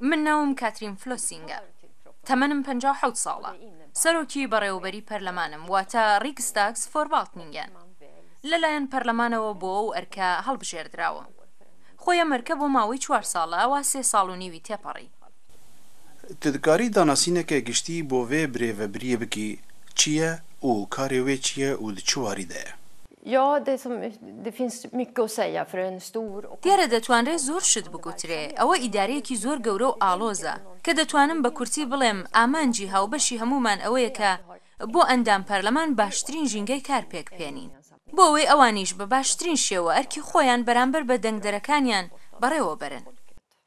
من ناوم کاترین فلۆسینگە. تەمەنم پەنجا و حەوت ساڵە. سەرۆکی بەڕێوەبەری پەرلەمانم، واتە ڕیکستاگسفۆرڤاڵتنینگەن. لەلایەن پەرلەمانەوە بۆ ئەو ئەرکە هەڵبژێردراوم. خۆی ئەم ئەرکە بۆ ماوەی چوار ساڵە، ئەوا سێ ساڵ و نیوی تێپەڕی. تە دکاری داناسینەکە گشتی بۆ ڤێ برێڤەبرییە بکی چییە و کارێ وێ چییە و د چ واریدەێ؟ دیارە دەتوانرێ زۆر شت بگوترێ، ئەوە ئیدارەیەکی زۆر گەورە و ئاڵۆزە، کە دەتوانم بە کورتی بڵێم ئامانجی هاوبەشی هەموومان ئەوەیە کە بۆ ئەندام پەرلەمان باشترین ژینگەی کار پێک بهێنین، بۆ ئەوەی ئەوانیش بە باشترین شێوە ئەرکی خۆیان بەرامبەر بە دەنگدەرەکانیان بەڕێوە بەرن.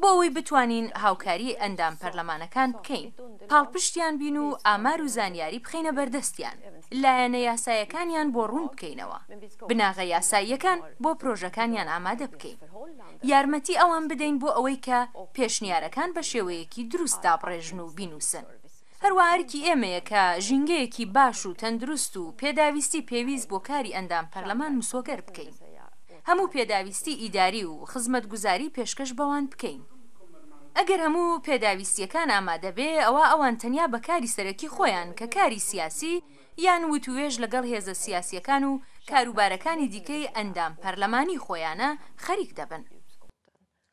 بۆ ئەوەی بتوانین هاوکاریی ئەندام پەرلەمانەکان بکەین، پاڵپشتیان بین و ئامار و زانیاری بخەینە بەردەستیان، لایەنە یاسایەکانیان بۆ ڕوون بکەینەوە، بناغە یاساییەکان بۆ پرۆژەکانیان ئامادە بکەین. یارمەتی ئەوان بدەین بۆ ئەوەی کە پێشنیارەکان بە شێوەیەکی دروست دابڕێژن و بینووسن. هەروا ئەرکی ئێمەیە کە ژینگەیەکی باش و تەندروست و پێداویستی پێویست بۆ کاری ئەندام پەرلەمان مسۆگەر بکەین. هەموو پێداویستی ئیداری و خزمەتگوزاری پێشکەش بەوان بکەین. ئەگەر هەموو پێداویستییەکان ئامادە بێ ئەوا ئەوان تەنیا بە کاری سەرەکی خۆیان کە کاری سیاسی یان وتووێژ لەگەڵ هێزە سیاسییەکان و کاروبارەکانی دیکەی ئەندام پەرلەمانی خۆیانە خەریک دەبن.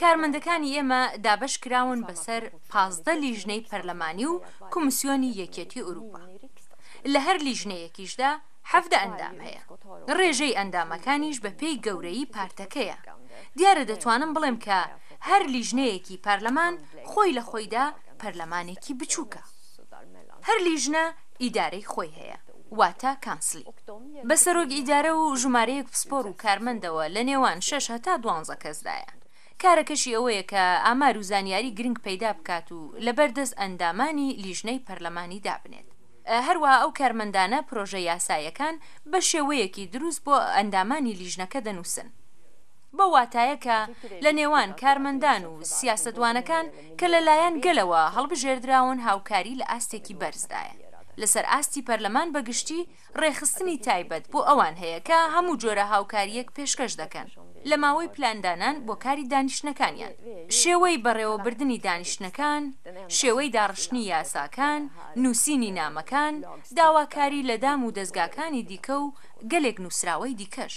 کارمەندەکانی ئێمە دابەش کراون بەسەر پازدە لیژنەی پەرلەمانی و کۆمیسیۆنی یەکێتی ئورووپا. لە هەر لیژنەیەکیشدا حەڤدە ئەندام هەیە. ڕێژەی ئەندامەکانیش بە پێی گەورەیی پارتەکەیە. دیارە دەتوانم بڵێم کە هەر لیژنەیەکی پارلەمان خۆی لە خۆیدا پەرلەمانێکی بچووکە. هەر لیژنە ئیدارەی خۆی هەیە. واتە کانسلی بە سەرۆک ئیدارە و ژمارەیەک پسپۆر و کارمەندەوە لە نێوان شەش هەتا دوانزە کەسدایە. کارەکەشی ئەوەیە کە ئامار و زانیاری گرنگ پەیدا بکات و لەبەر دەست ئەندامانی لیژنەی پەرلەمانی دابنێت. هەروەها ئەو کارمەندانە پرۆژە یاسایەکان بە شێوەیەکی دروست بۆ ئەندامانی لیژنەکە دەنووسن. بەو واتایە کە لە نێوان کارمەندان و سیاسەتوانەکان کە لە لایەن گەلەوە هەڵبژێردراون هاوکاری لە ئاستێکی بەرزدایە لەسەر ئاستی پەرلەمان بە گشتی ڕێکخستنی تایبەت بۆ ئەوان هەیە کە هەموو جۆرە هاوکارییەک پێشکەش دەکەن لە ماوەی پلاندانان بۆ کاری دانیشتنەکانیان شێوەی بەڕێوەبردنی دانیشتنەکان شێوەی داڕشتنی یاساکان نووسینی نامەکان داواکاری لە دام و دەزگاکانی دیکە و گەلێک نووسراوەی دیکەش.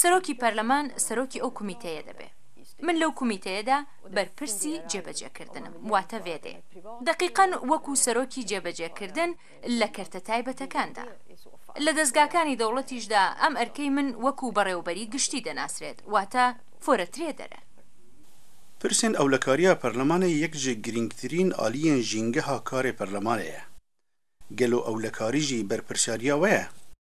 سەرۆکی پەرلەمان سەرۆکی ئەو کومیتەیە دەبێ. من لەو کومیتەیەدا بەرپرسی جێبەجێکردنم، واتە ڤێدێ. دەقیقەن وەکوو سەرۆکی جێبەجێکردن لە کەرتە تایبەتەکاندا. لە دەزگاکانی دەوڵەتیشدا ئەم ئەرکەی من وەکوو بەڕێوەبەری گشتی دەناسرێت، واتە فۆرەترێدەرە. پرسێن ئەولەکارییە پەرلەمانێ یەک جێ گرینگترین ئالیێن ژینگەها کارێ پەرلەمانێ یە. گەلۆ ئەولەکاریژی بەرپرسیارییە وەیە؟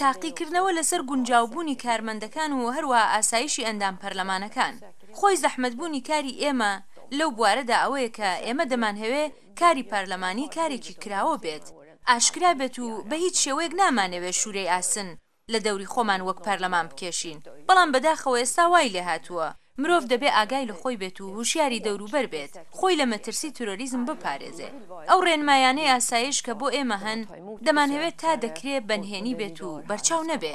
تاقیکردنەوە لەسەر گونجاوبوونی کارمەندەکان و هەروەها ئاسایشی ئەندام پەرلەمانەکان. خۆی زەحمەتبوونی کاری ئێمە لەو بوارەدا ئەوەیە کە ئێمە دەمانهەوێ کاری پارلەمانی کارێکی کراوە بێت، ئاشکرا بێت و بە هیچ شێوەیەک نامانەوێ شوورەی ئاسن لە دەوری خۆمان وەک پارلەمان بکێشین، بەڵام بەداخەوە ئێستا وای لێهاتووە. مرۆڤ دەبێ ئاگای لە خۆی بێت و هوشیاری دەوروبەر بێت، خۆی لە مەترسی ترۆریزم بپارێزێ. ئەو ڕێنمایانەی ئاسایش کە بۆ ئێمە هەن، دەمانهەوێ تا دەکرێ بە نهێنی بێت و بەرچاو نەبێ.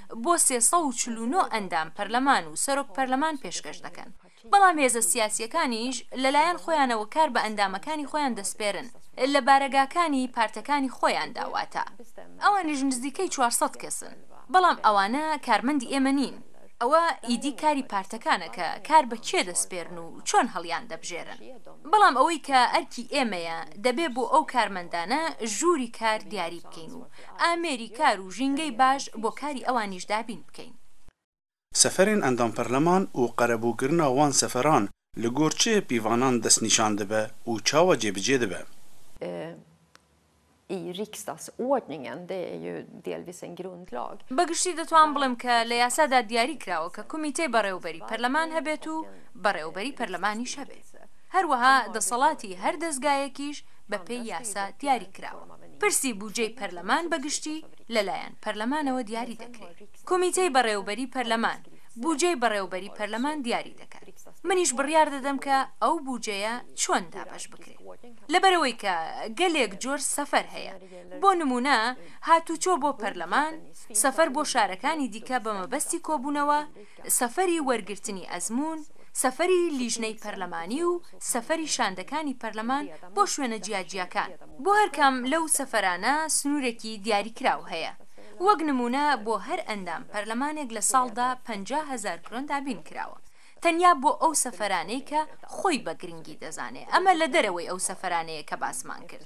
بۆ سێ سەد و چل و نۆ ئەندام پەرلەمان و سەرۆک پەرلەمان پێشکەش دەکەن، بەڵام هێزە سیاسییەکانیش لەلایەن خۆیانەوە کار بە ئەندامەکانی خۆیان دەسپێرن لە بارەگاکانی پارتەکانی خۆیاندا، واتە ئەوانیش نزیکەی چوار سەد کەسن، بەڵام ئەوانە کارمەندی ئێمە نین، ئەوە ئیدی کاری پارتەکانە کە کار بە کێ دەسپێرن و چۆن هەڵیاندەبژێرن، بەڵام ئەوەی کە ئەرکی ئێمەیە دەبێ بۆ ئەو کارمەندانە ژووری کار دیاری بکەین و ئامێری کار و ژینگەی باش بۆ کاری ئەوانیش دابین بکەین. سەفەرێن ئەندام پەرلەمان و قەرەبووکردنا وان سەفەران لە گۆر چ پیڤانان دەس نیشان دبە و چاوا جێبجێ دبە؟ بە گشتی دەتوان بڵێم کە لە یاسادا دیاری کراوە کە کومیتەی بەڕێوەبەری پەرلەمان هەبێت و بەڕێوەبەری پەرلەمانیش هەبێت. هەروەها دەسەڵاتی هەر دەزگایەکیش بە پێی یاسا دیاری کراوە. پرسی بوجەی پەرلەمان بە گشتی لەلایەن پەرلەمانەوە دیاری دەکرێ. کومیتەی بەڕێوبەری پەرلەمان بوجەی بەڕێوبەری پەرلەمان دیاری دەکات. منیش بڕیار دەدەم کە ئەو بوجەیە چۆن دابەش بکرێ. لەبەرئەوەی کە گەلێک جۆر سەفەر هەیە. بۆ نموونە هاتوچۆ بۆ پەرلەمان، سەفەر بۆ شارەکانی دیکە بە مەبەستی کۆبوونەوە، سەفەری وەرگرتنی ئەزموون، سەفەری لیژنەی پەرلەمانی و سەفەری شاندەکانی پەرلەمان بۆ شوێنە جیاجیاکان. بۆ هەر کام لەو سەفەرانە سنوورێکی دیاریکراو هەیە. وەک نموونە بۆ هەر ئەندام پەرلەمانێک لە ساڵدا پەنجا هەزار کرۆن دابین کراوە. تەنیا بۆ ئەو سەفەرانەی کە خۆی بە گرنگی دەزانێ. ئەمە لە دەرەوەی ئەو سەفەرانەیە کە باسمان کرد.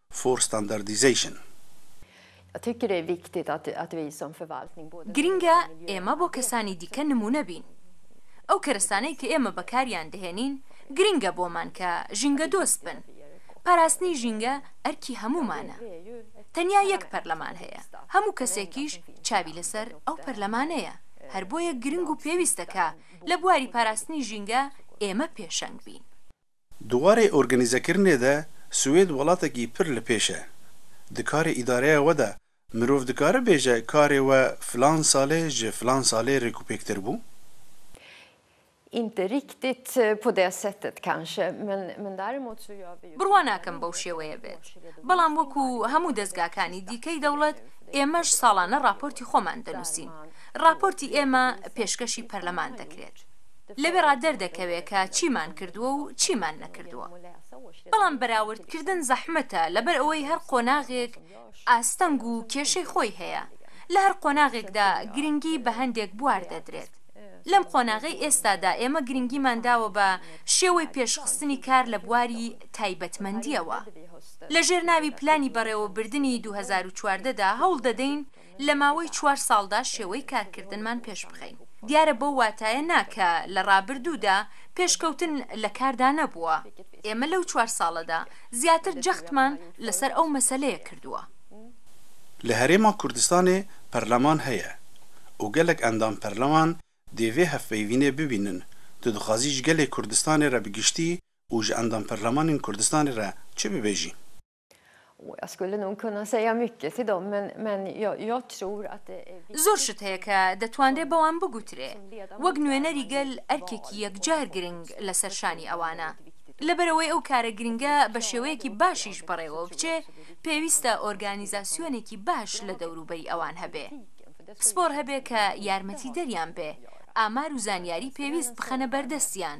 for standardization. گرنگە ئێمە بۆ کەسانی دیکە نموونە بین. ئەو کەرەسانەی کە ئێمە بەکاریان دەهێنین گرنگە بۆمان کە ژینگەدۆست بن. پاراستنی ژینگە ئەرکی هەموومانە. تەنیا یەک پەرلەمان هەیە، هەموو کەسێکیش چاوی لەسەر ئەو پەرلەمانەیە، هەر بۆیە گرنگ و پێویستە کە لە بواری پاراستنی ژینگە ئێمە پێشەنگ بین. دوارێ ئورگەنیزەکردنێ دە سوێد وەڵاتەکی پر لە پێشە. دە کارێ ئیدارەێە وە دە مرۆڤ دکارە بێژە کارێ وە فلان سالێ ژە فلان سالێ رێکوپێک تر بوو؟ بڕوا ناکەم بەو شێوەیە بێت. بەڵام وەکو هەموو دەزگاکانی دیکەی دەوڵەت ئێمەش ساڵانە راپۆرتی خۆمان دەنووسین. راپۆرتی ئێمە پێشکەشی پەرلەمان دەکرێت. لەوێڕا دەردەکەوێ کە چیمان کردووە و چیمان نەکردووە. بەڵام بەراوردکردن زەحمەتە لەبەر ئەوەی هەر قۆناغێک ئاستەنگ و کێشەی خۆی هەیە، لە هەر قۆناغێکدا گرنگی بە هەندێک بوار دەدرێت. لەم قۆناغەی ئێستادا ئێمە گرنگیمان داوە بە شێوەی پێشخستنی کار لە بواری تایبەتمەندییەوە. لەژێر ناوی پلانی بەڕێوەبردنی دوو هەزار و چواردە دا هەوڵ دەدەین لە ماوەی چوار ساڵدا شێوەی کارکردنمان پێشبخەین. دیارە بەو واتایە نا کە لە ڕابردوودا پێشکەوتن لە کاردا نەبووە. ئێمە لەو چوار ساڵەدا زیاتر جەختمان لەسەر ئەو مەسەلەیە کردووە. لە هەرێما کوردستانێ پەرلەمان هەیە و گەلەک ئەندام پەرلەمان دێ ڤێ هەڤپەیڤینێ ببینن، تو دخوازی ژ گەلێ کوردستانێ رە بگشتی و ژ ئەندام پەرلەمانێن کوردستانێ رە چ ببێژی؟ زۆر شت هەیە کە دەتوانرێ بەوان بگوترێ. وەک نوێنەری گەل ئەرکێکی یەکجار گرنگ لەسەر شانی ئەوانە. لەبەرئەوەی ئەو کارە گرنگە بە شێوەیەکی باشیش بەڕێوە بچێ، پێویستە ئۆرگانیزاسیۆنێکی باش لە دەوروبەری ئەوان هەبێ. پسپۆڕ هەبێ کە یارمەتیدەریان بێ، ئامار و زانیاری پێویست بخەنە بەردەستیان.